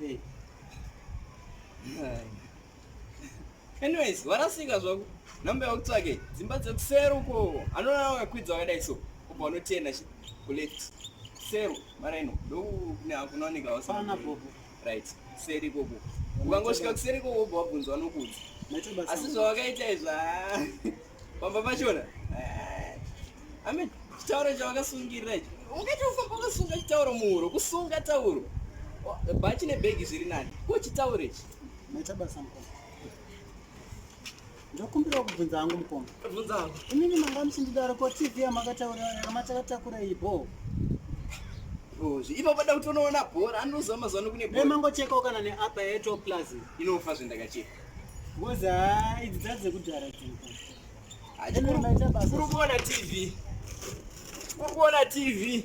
Hey. Anyways, warasika zvaku number yakutsvake dzimba dzekusero uko anoona wakakwidza wakadai so kubva unotenda kuleft sero mara ino ndokunooneka wasana popo right seri ikoko ukangosvika kuseri ikoko ubva wabvunza vanokuudza asi zvawakaita izva Pamba pachona. Eh, Amen. Chitauro chavakasungirira icho. Ungaita kufamba wakasunga chitauro muhuro, kusunga tauro. Bhachi nebhegi zviri nani. Ko chitauro ichi. Maita basa mukoma. Ndokumbirawo kubvunza hangu mukoma. Bvunza hangu. Imimi manga muchindidaro ko TV yamakataura yamatakatakura iyi bho. Bozvi. Ipo pada kutonoona bhora anozama zano kune bhora. Nemangochekawo kana neapa yeto plus. Inofa zvendakacheka. Ngoza idzi dzadze kudhara dzimba. Achikuru kuona TV. Kuri kuona TV.